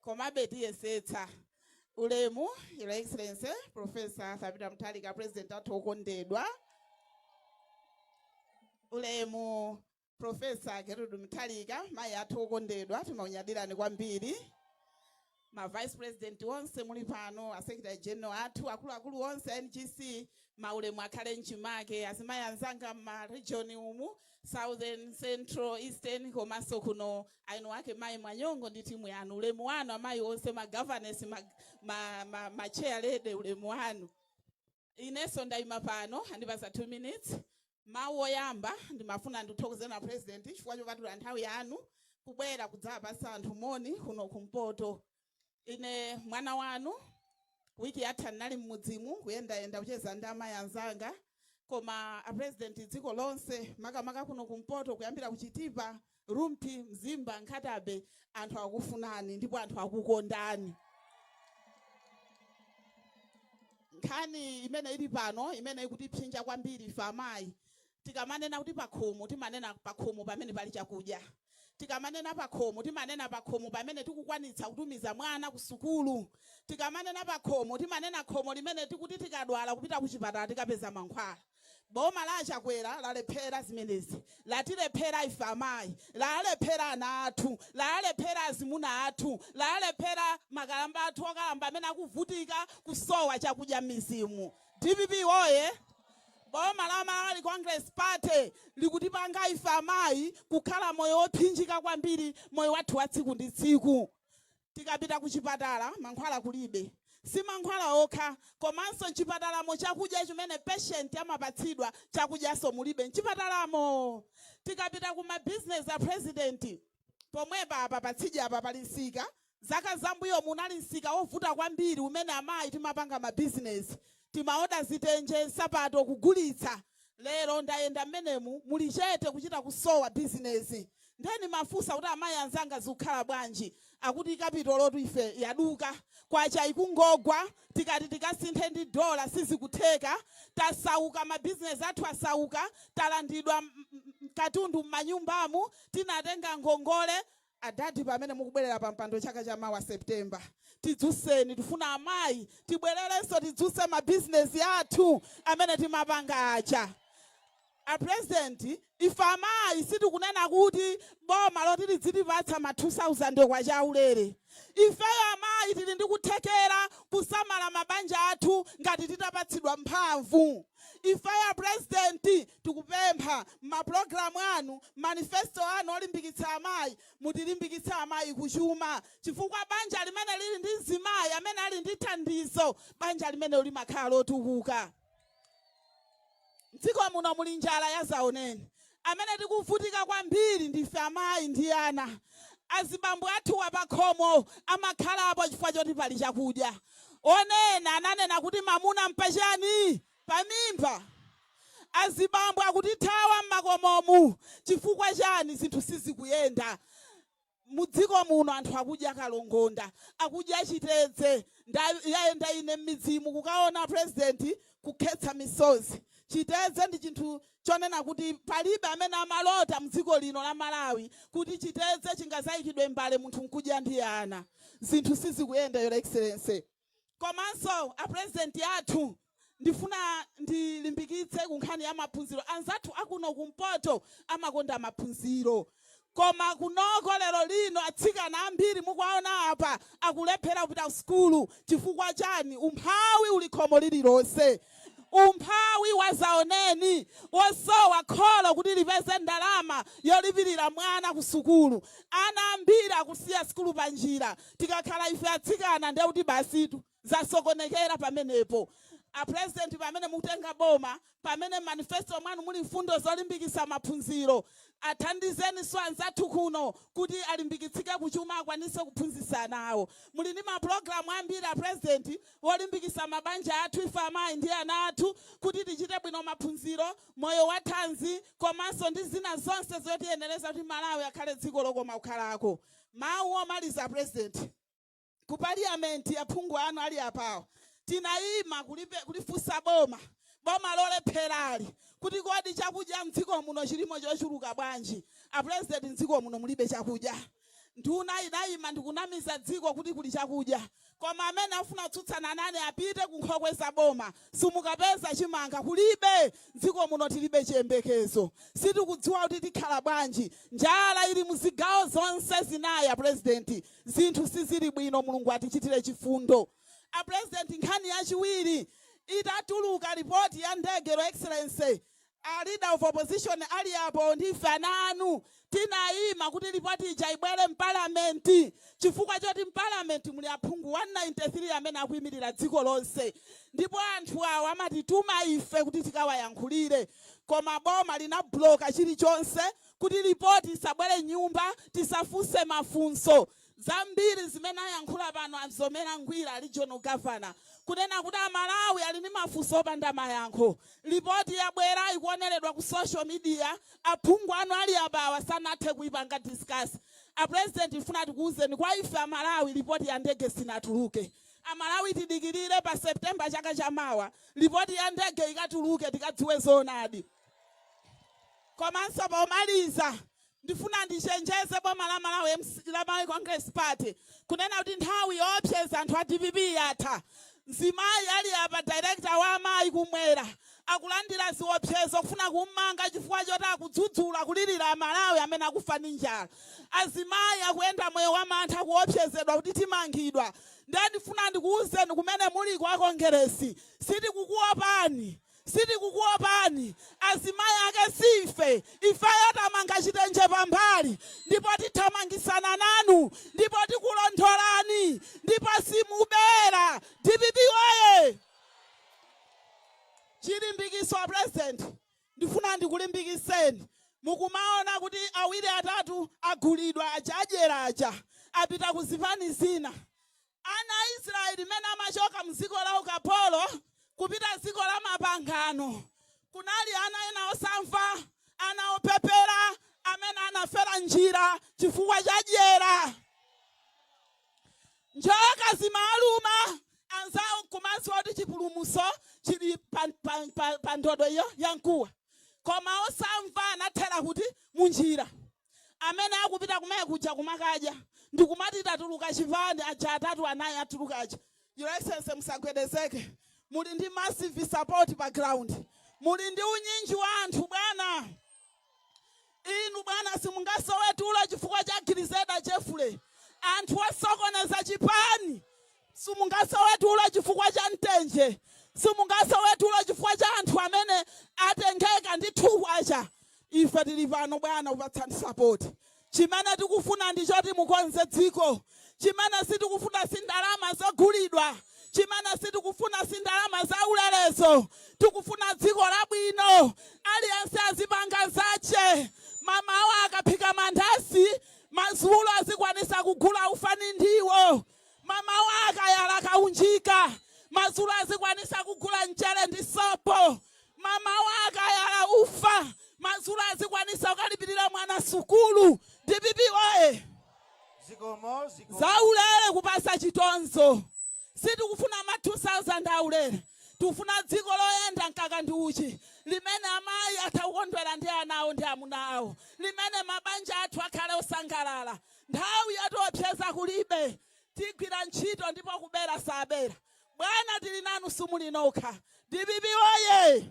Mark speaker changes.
Speaker 1: Komabe tiyesetsa. Ulemu, Your Excellency, Professor Arthur Peter Mutharika, President athu okondedwa. Ulemu, Professor Gertrude Mutharika, mayi athu okondedwa, timakunyadirani kwambiri. Ma Vice President onse muli pano, a Secretary General athu, akuluakulu onse a NGC, maulemu akhale mchimake, azimayi anzanga m'ma region umu, southern central eastern komanso kuno eni ake mayi mwanyongo ndi timu yanu ulemu wanu amayi onse ma governors ma, ma, ma, ma chair lady ulemu wanu inenso ndayima pano andipatsa 2 minutes mawu oyamba ndimafuna ndikuthokozeni a president chifukwa chopatula nthawi yanu kubwera kudzapatsa anthu moni kuno kumpoto ine mwana wanu wiki yatha ndinali mmudzimu kuyendayenda kucheza ndi amayi anzanga koma apresident dziko lonse makamaka kuno kumpoto kuyambira ku Chitipa Rumphi Mzimba Nkhata Bay anthu akufunani ndipo anthu akukondani nkhani imene ili pano imene ikutipsinja kwambiri ife amayi Tikamanena kuti pakhomo, timanena pakhomo pamene pali chakudya. Tikamanena pakhomo, timanena pakhomo pamene tikukwanitsa kutumiza mwana kusukulu. Tikamanena pakhomo, timanena khomo limene tikuti tikadwala kupita kuchipatala tikapeza mankhwala. Boma la a Chakwera lalephera zimenezi. Latilephera ife amayi. Lalephera ana athu. Lalephera azimuna athu. Lalephera makalamba athu okalamba amene akuvutika kusowa chakudya m'midzimu. Dpp woye! Boma la Malawi Congress Party likutipanga ife amayi kukhala moyo wophinjika kwambiri moyo wathu wa tsiku ndi tsiku. Tikapita kuchipatala mankhwala kulibe. Si mankhwala okha, komanso m'chipatalamo chakudya chimene patient amapatsidwa chakudyanso mulibe m'chipatalamo. Tikapita ku ma business a President. pomwepa apa patsidya apa pali msika zaka zambuyomu unali msika wovuta kwambiri umene amayi timapanga ma business timaoda zitenje nsapato kugulitsa lero ndayenda mmenemu muli chete kuchita kusowa business nde ndimafunsa kuti amayi anzanga zikukhala bwanji akuti kapitolo tu ife yaduka kwacha ikungogwa tikati tikasinthe ndi dollar sizikutheka tasauka ma business athu asauka talandidwa katundu mmanyumbamu tinatenga ngongole adadi pamene mukubwerera pa mpando chaka cha mawa September tidzutseni tifuna amayi tibwererenso tidzutse ma business athu amene timapanga aja a president ife amayi sitikunena kuti boma loti lidzitipatsa ma 2000 kwa chaulere ifeyo amayi tili ndi kuthekera kusamala mabanja athu ngati titapatsidwa mphamvu ifeyo a president Tikupempha mma program anu, manifesto anu olimbikitsa amayi, mutilimbikitse amayi ku chuma chifukwa banja limene lili ndi mzimayi amene ali ndi thandizo, banja limenelo limakhala lotukuka. Mdziko muno muli njala yazaoneni. Amene tikuvutika kwambiri ndife amayi ndi ana. Azibambo athuwa pakhomo amakhalapo chifukwa choti pali chakudya. Onena ananena kuti mamuna mpachani? pamimba. Azibambo akutithawa m'makomomu chifukwa chani? Zinthu sizikuyenda mu dziko muno. Anthu akudya kalongonda, akudya chitedze. Ndayenda ine m'midzimu kukaona president kukhetsa misozi. Chitedze ndi chinthu chonena kuti palibe amene amalota mu dziko lino la Malawi kuti chitedze chingazaikidwe m'mbale munthu nkudya ndi ana. Zinthu sizikuyenda, Your Excellency. Komanso a president athu ndifuna ndilimbikitse ku nkhani ya maphunziro. Anzathu akuno kumpoto amakonda maphunziro koma kunoko lero lino atsikana ambiri mukuwaona apa akulephera kupita ku sukulu chifukwa chani? Umphawi uli khomo lililonse. Umphawi wazaoneni wosowa kholo kuti lipeze ndalama yolipirira mwana ku sukulu. Ana ambiri akusiya sukulu panjira. Tikakhala ife atsikana ndiye kuti basitu zasokonekera pamenepo. A President pamene mukutenga boma, pamene m'manifesto mwanu muli mfundo zolimbikitsa maphunziro, athandizeni anzathu kuno kuti alimbikitsike kuchuma akwanitse kuphunzitsa ana awo. Muli ndi mapulogalamu ambiri a President olimbikitsa mabanja athu, ife amayi ndi ana athu kuti tichite bwino maphunziro, moyo wathanzi komanso ndi zina zonse zotiyenereza kuti Malawi akhale dziko lokoma kukhalako. Mawu omaliza apresident ku parliament aphungu anu ali apawo tinayima kulifunsa boma boma lolepherali kuti kodi chakudya mdziko muno chilimo chochuluka bwanji apresident mdziko muno mulibe chakudya nduna inayima ndikunamiza dziko kuti kuli chakudya Koma amene afuna kutsutsana nane apite ku nkhokwe za boma. Simukapeza chimanga. Kulibe. M'dziko muno tilibe chiyembekezo. Sitikudziwa kuti tikhala bwanji. Njala ili mu zigawo zonse zinayi a Pulezidenti. Zinthu sizili bwino. Mulungu atichitire chifundo. A Pulezidenti, nkhani yachiwiri itatuluka lipoti ya ndege, Your Excellency, A leader of opposition ali apo ndi ife ana anu tinayima kuti report ija ibwere m'parliament chifukwa choti m'parliament muli aphungu 193 amene akuyimirira dziko lonse ndipo anthu awa amatituma ife kuti tikawayankhulire koma boma linabloka chilichonse kuti report isabwere m'nyumba tisafunse mafunso Zambiri zimene ayankhula pano a Mzomera Ngwira, regional governor, kunena kuti a Malawi ali ndi mafunso opanda mayankho. Lipoti yabwera ikuoneredwa ku social media, aphungu anu ali apawa sanathe kuipanga discuss. A president tifuna tikuuzeni kwa ife a Malawi lipoti ya ndege sinatuluke. A Malawi tidikilire pa September chaka cha mawa lipoti ya ndege ikatuluke tikadziwe zoonadi. Komanso pomaliza Ndifuna ndichenjeze boma la Malawi mc la Malawi Congress Party kunena kuti nthawi yoopseza anthu a dpp yatha. Mzimayi ali apa director wa amayi kumwera akulandira ziopsezo kufuna kummanga chifukwa choti akudzudzula kulilira amalawi amene akufa ndi njala. Azimayi akuyenda moyo wa mantha akuopsezedwa kuti timangidwa. Ndiye ndifuna ndikuuzeni kumene muliko a Kongeresi sitikukuopani. Sitikukuopani azimayi ake si ife ifeyo tamanga chitenje pambali ndipo tithamangisana nanu ndipo tikulondolani ndipo simubera. Dpp woye! Chilimbikiso a president ndifuna ndikulimbikiseni mukumaona kuti awiri atatu agulidwa aja adyera aja apita kuzipani zina Ana a Israeli mene amachoka mu dziko la ukapolo kupita dziko la mapangano, kunali ana ena osamva, ana opepera amene anafera m'njira chifukwa cha dyera. Njoka zimaluma anzawo nkumadziwa kuti chipulumutso chili pa, pa, pa, pa ndodo iyo ya mkuwa, koma osamva anathera kuti munjira. amene akupita kumene kuja kumakadya ndikumati tatuluka chipani aja atatu anayi atuluka aja your excellency musagwedezeke muli ndi massive support pa ground muli ndi unyinji wa anthu bwana inu bwana simungasowe tulo chifukwa cha Grezelder Jeffrey anthu osokoneza chipani Simungasowe tulo chifukwa cha Mtenje. Simungasowe tulo chifukwa cha anthu amene atengeka ndi K2. Ife tili pano bwana kupatsani support. Chimene tikufuna ndi choti mukonze dziko. Chimene sitikufuna si ndalama zogulidwa. Chimene sitikufuna si ndalama zaulerezo. Tikufuna dziko labwino. Aliyense azipanga zache. Mmawa akaphika mandasi, madzulo azikwanitsa kugula ufa ndi ndiwo. Mmawa akayala kaunjika, madzulo azikwanitsa kugula mchere ndi sopo. Mmawa akayala ufa, madzulo azikwanitsa kukalipirira mwana sukulu. Dpp woye! Zikomo, zikomo. Zaulere kupatsa chitonzo. Sitikufuna ma 2000 aulere. Tikufuna dziko loyenda mkaka ndi uchi, limene amayi atha kukondwera ndi ana awo ndi amuna awo, limene mabanja athu akhale osangalala. Nthawi yotiopseza kulibe tigwira ntchito ndipo kubera sabera bwana tili nanu simuli nokha dpp woyee!